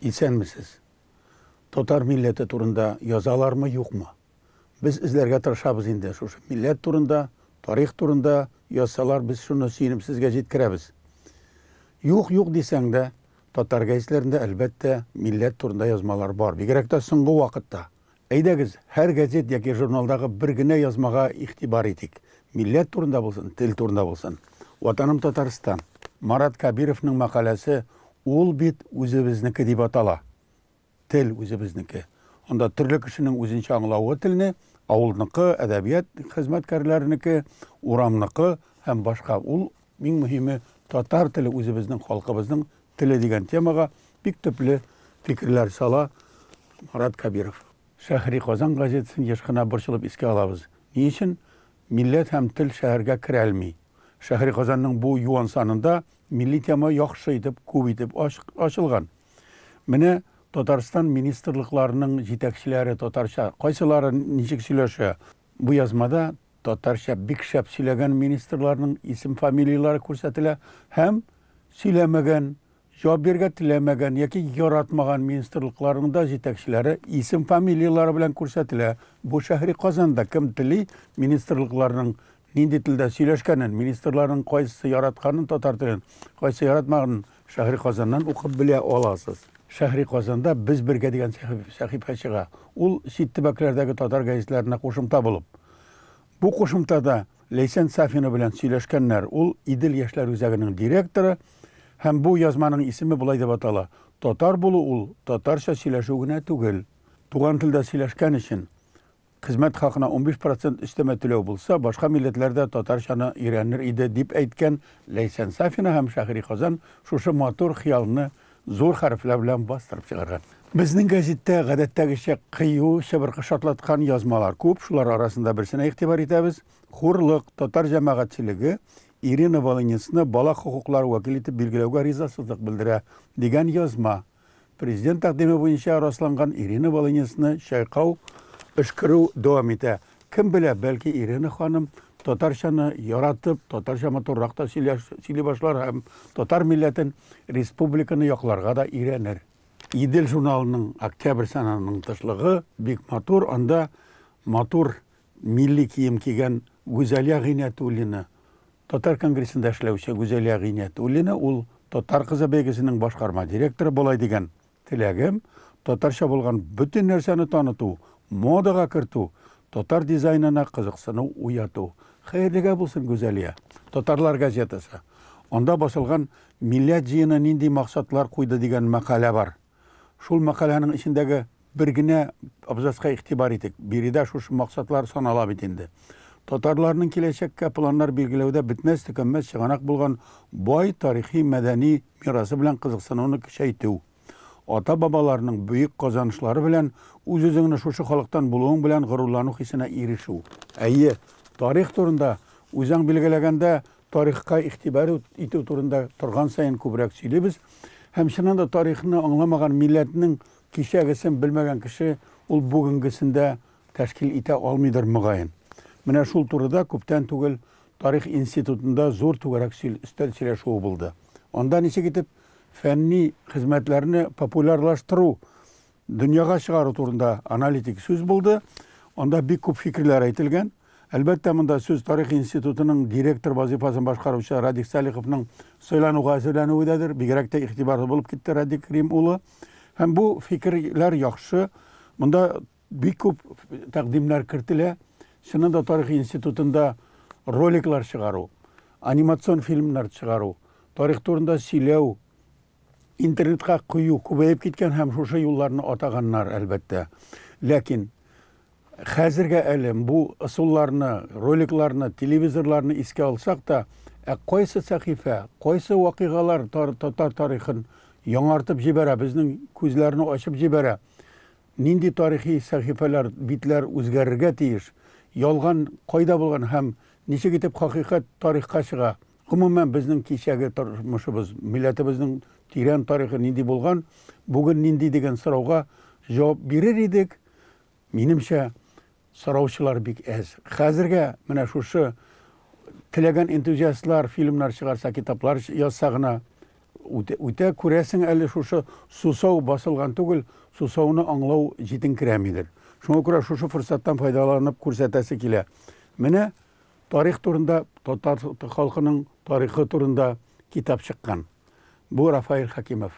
Исәнмесез. Татар милләте турында язалармы, юкмы? Без эзләргә тырышабыз инде шушы милләт турында, тарих турында язсалар, без шуны сөенеп сезгә җиткерәбез. Юк, юк дисәң дә, татар гәзитләрендә әлбәттә милләт турында язмалар бар, бигрәк тә соңгы вакытта. Әйдәгез, һәр газет яки журналдагы бер генә язмага игътибар итик. Милләт турында булсын, тел турында булсын. Ватаным Татарстан. Марат Кабировның мәкаләсе Ул бит үзебезнеке дип атала. Тел үзебезнеке. Анда төрле кешенең үзенчә аңлавы телне, авылныкы, әдәбият хезмәткәрләренеке, урамныкы һәм башка. Ул Иң мөһиме, татар теле үзебезнең халкыбызның теле дигән темага бик төпле фикерләр сала Марат Кәбиров. Шәһри Казан газетасын еш кына борчылып искә алабыз. Ни өчен милләт һәм тел шәһәргә керәлми? Шәһри Казанның бу юан санында милли тема яхшы итеп, күп итеп ачылган. Менә Татарстан министрлыкларының җитәкчеләре татарча кайсылары ничек сөйләшә? Бу язмада татарча бик шәп сөйләгән министрларның исем-фамилияләре күрсәтелә һәм сөйләмәгән, җавап бирергә теләмәгән яки яратмаган министрлыкларның да җитәкчеләре исем-фамилияләре белән күрсәтелә. Бу шәһри Казанда кем тели, министрлыкларның нинди телдә сөйләшкәнен, министрларның кайсысы яратканын татар телен, кайсы яратмаганын Шәһри Казаннан укып белә аласыз. Шәһри Казанда без бергә дигән сәхифә чыга. Ул чит төбәкләрдәге татар гәзитләренә кушымта булып. Бу кушымтада Ләйсән Сафина белән сөйләшкәннәр. Ул, Идел яшьләр үзәгенең директоры һәм бу язманың исеме болай дип атала, Татар булу ул татарча сөйләшү генә түгел. Туган телдә сөйләшкән өчен Хезмәт хакына унбиш процент өстәмә түләү булса, башка милләтләр дә татарчаны өйрәнер иде, дип әйткән Ләйсән Сафина һәм Шәһри Казан шушы матур хыялны зур хәрефләр белән бастырып чыгарган. Безнең гәзиттә, гадәттәгечә, кыю, чыбыркы шартлаткан язмалар күп, шулар арасында берсенә игътибар итәбез. Хурлык, татар җәмәгатьчелеге Ирина Волынецны бала хокуклары вәкиле итеп билгеләүгә ризасызлык белдерә, дигән язма. Президент тәкъдиме буенча расланган Ирина Волынецны чайкау, өшкерү дәвам итә. Кем белә, бәлки Ирина ханым татарчаны яратып, татарча матуррак та сөйли башлар һәм татар милләтен, республиканы якларга да өйрәнер. Идел журналының октябрь санының тышлыгы бик матур, анда матур милли кием кигән Гүзәлия Гыйнәтуллина, Татар конгрессында эшләүче Гүзәлия Гыйниятуллина, ул Татар кызы бәйгесенең башкарма директоры болай дигән, Теләгем, татарча булган бөтен нәрсәне таныту, модага кертү, татар дизайнына кызыксыну уяту. Хәерлегә булсын, Гүзәлия! Татарлар газетасы. Анда басылган Милләт җыены нинди максатлар куйды дигән мәкалә бар. Шул мәкаләнең эчендәге Бер генә абзацка игътибар итик. Биредә шушы максатлар санала бит инде. Татарларның киләчәккә планнар билгеләүдә бетмәс-төкәнмәс чыганак булган бай тарихи-мәдәни мирасы белән кызыксынуны көчәйтү. Ата-бабаларның бөек казанышлары белән үз-үзеңне шушы халыктан булуың белән горурлану хисенә ирешү. Әйе, тарих турында, үзең билгеләгәндә, тарихка игътибар итү турында торган саен күбрәк сөйлибез һәм чыннан да тарихны аңламаган милләтнең Кичәгесен белмәгән кеше ул бүгенгесен дә тәшкил итә алмыйдыр, мөгаен. Менә шул турыда күптән түгел Тарих институтында зур түгәрәк өстәл сөйләшүе булды. Анда ничек итеп фәнни хезмәтләрне популярлаштыру, дөньяга чыгару турында аналитик сүз булды. Анда бик күп фикерләр әйтелгән. Әлбәттә, монда сүз Тарих институтының директор вазыйфасын башкаручы Радик Салиховның сайлануга әзерләнүе дәдер. Бигрәк тә игътибарлы булып китте Радик Рим улы. Һәм бу фикерләр яхшы. Монда бик күп тәкъдимнәр кертелә. Чыннан да тарих институтында роликлар чыгару, анимацион фильмнар чыгару, тарих турында сөйләү, интернетка кую күбәеп киткән һәм шушы юлларны атаганнар, әлбәттә. Ләкин Хәзергә әле бу ысулларны, роликларны, телевизорларны искә алсак та, ә кайсы сәхифә, кайсы вакыйгалар татар тарихын яңартып җибәрә, безнең күзләрне ачып җибәрә? Нинди тарихи сәхифәләр, битләр үзгәрергә тиеш? Ялган кайда булган һәм ничек итеп хакыйкать тарихка чыга? Гомумән, безнең кичәге тормышыбыз, милләтебезнең тирән тарихы нинди булган, бүген нинди дигән сорауга җавап бирер идек, Минемчә, сораучылар бик әз. Хәзергә менә шушы теләгән энтузиастлар фильмнар чыгарса, китаплар язса гына үтә, күрәсең, әле шушы сусау басылган түгел, сусауны аңлау җитенкерәмидер. Шуңа күрә шушы форсаттан файдаланып күрсәтәсе килә. Менә тарих турында, татар халкының тарихы турында китап чыккан. Бу Рафаэль Хәкимов.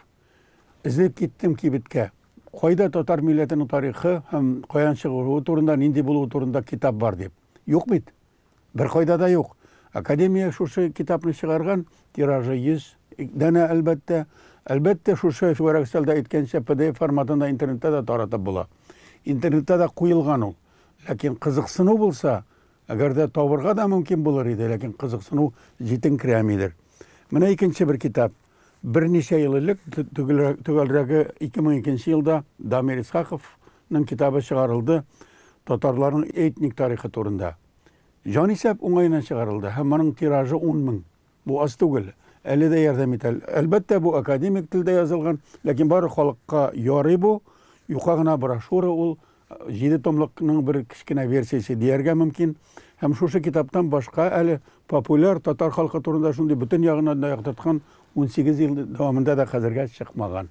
Эзләп киттем кибеткә. Кайда татар милләтенең тарихы һәм каян чыгуы турында, нинди булуы турында китап бар дип. Юк бит. Беркайда да юк. Академия шушы китапны чыгарган, тиражы 100 данә, әлбәттә. Әлбәттә, шушы Чүгәрәк өстәлдә әйткәнчә, pdf форматында интернетта да таратып була. Интернетта да куелган ул. Ләкин кызыксыну булса, әгәр дә табырга да мөмкин булыр иде, ләкин кызыксыну җитенкерәмидер. Менә икенче бер китап. Берничә ел элек, төгәлрәге 2002 елда Дамир Исхаковның китабы чыгарылды татарларның этник тарихы турында. Җанисәп уңаеннан чыгарылды һәм моның тиражы 10 мең. Бу аз түгел, әле дә ярдәм итә. Әлбәттә, бу академик телдә язылган, ләкин бары халыкка ярый бу, юка гына брошюра ул, Җиде томлыкның бер кечкенә версиясе дияргә мөмкин. Һәм шушы китаптан башка әле популяр татар халкы турында шундый бөтен ягыннан да яктырткан унсигез ел дәвамында да хәзергә чыкмаган.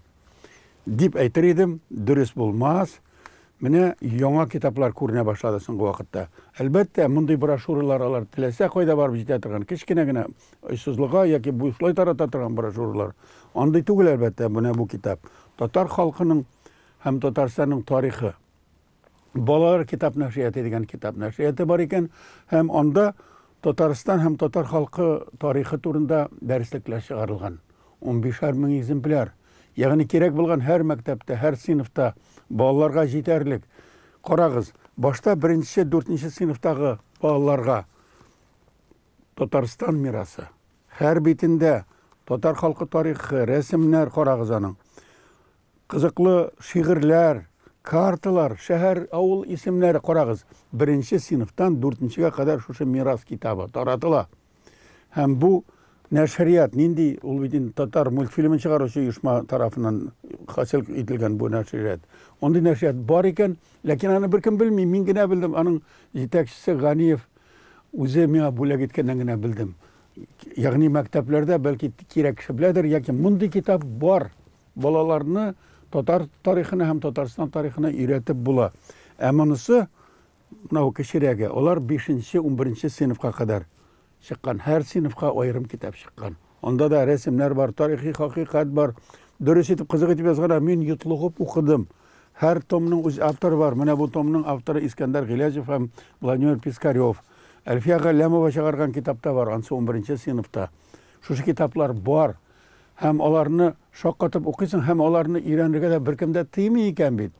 Дип әйтер идем, дөрес булмас. Менә яңа китаплар күренә башлады соңгы вакытта. Әлбәттә, мондый брошюралар алар теләсә кайда барып җитә торган, кечкенә генә очсызлыга яки бушлай тарата торган брошюралар. Андый түгел, әлбәттә, менә бу китап. Татар халкының һәм Татарстанның тарихы балалар китап нәшрияты дигән китап нәшрияты бар икән һәм анда Татарстан һәм татар халкы тарихы турында дәреслекләр чыгарылган. 15 мең экземпляр. Ягъни кирәк булган һәр мәктәптә, һәр сыйныфта балаларга җитәрлек. Карагыз, башта беренче, дүртенче сыйныфтагы балаларга Татарстан мирасы. Һәр битендә татар халкы тарихы, рәсемнәр карагыз аның. Кызыклы шигырьләр, карталар, шәһәр, авыл исемнәре, карагыз, беренче сыйныфтан дүртенчегә кадәр шушы мирас китабы таратыла. Һәм бу нәшрият нинди? Ул бит инде татар мультфильмын чыгаручы оешма тарафыннан хасил ителгән бу нәшрият. Ондый нәшрият бар икән, ләкин аны беркем белми, мин генә белдем, аның җитәкчесе Ганиев үзе миңа бүләк иткәннән генә белдем. Ягъни мәктәпләрдә бәлки кирәк кеше беләдер, яки мондый китап бар, Балаларны татар тарихына һәм Татарстан тарихына өйрәтеп була. Ә монысы, менә бу кечерәге, алар бишенче, унберенче сыйныфка кадәр чыккан. Һәр сыйныфка аерым китап чыккан. Анда да рәсемнәр бар, тарихи хакыйкать бар. Дөрес итеп, кызык итеп язганнар. Мин йотлыгып укыдым. Һәр томның үз авторы бар. Менә бу томның авторы Искәндәр Гыйләҗев һәм Владимир Пискарев. Әлфия Галләмова чыгарган китап та бар, ансы унберенче сыйныфта. Шушы китаплар бар. Һәм аларны шаккатып укыйсың, һәм аларны өйрәнергә дә беркем дә тыймый икән бит.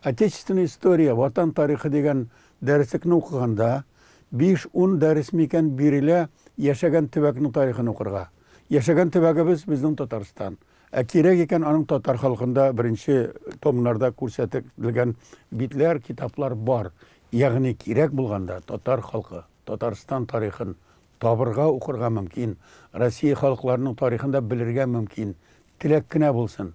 Отечественная история, Ватан тарихы дигән дәреслекне укыганда, биш-ун дәрес микән бирелә яшәгән төбәкнең тарихын укырга. Яшәгән төбәгебез, безнең Татарстан. Ә кирәк икән, аның татар халкында беренче томнарда күрсәтелгән битләр, китаплар бар. Ягъни кирәк булганда татар халкы, Татарстан тарихын, Табырга, укырга мөмкин. Россия халыкларының тарихын да белергә мөмкин. Теләк кенә булсын.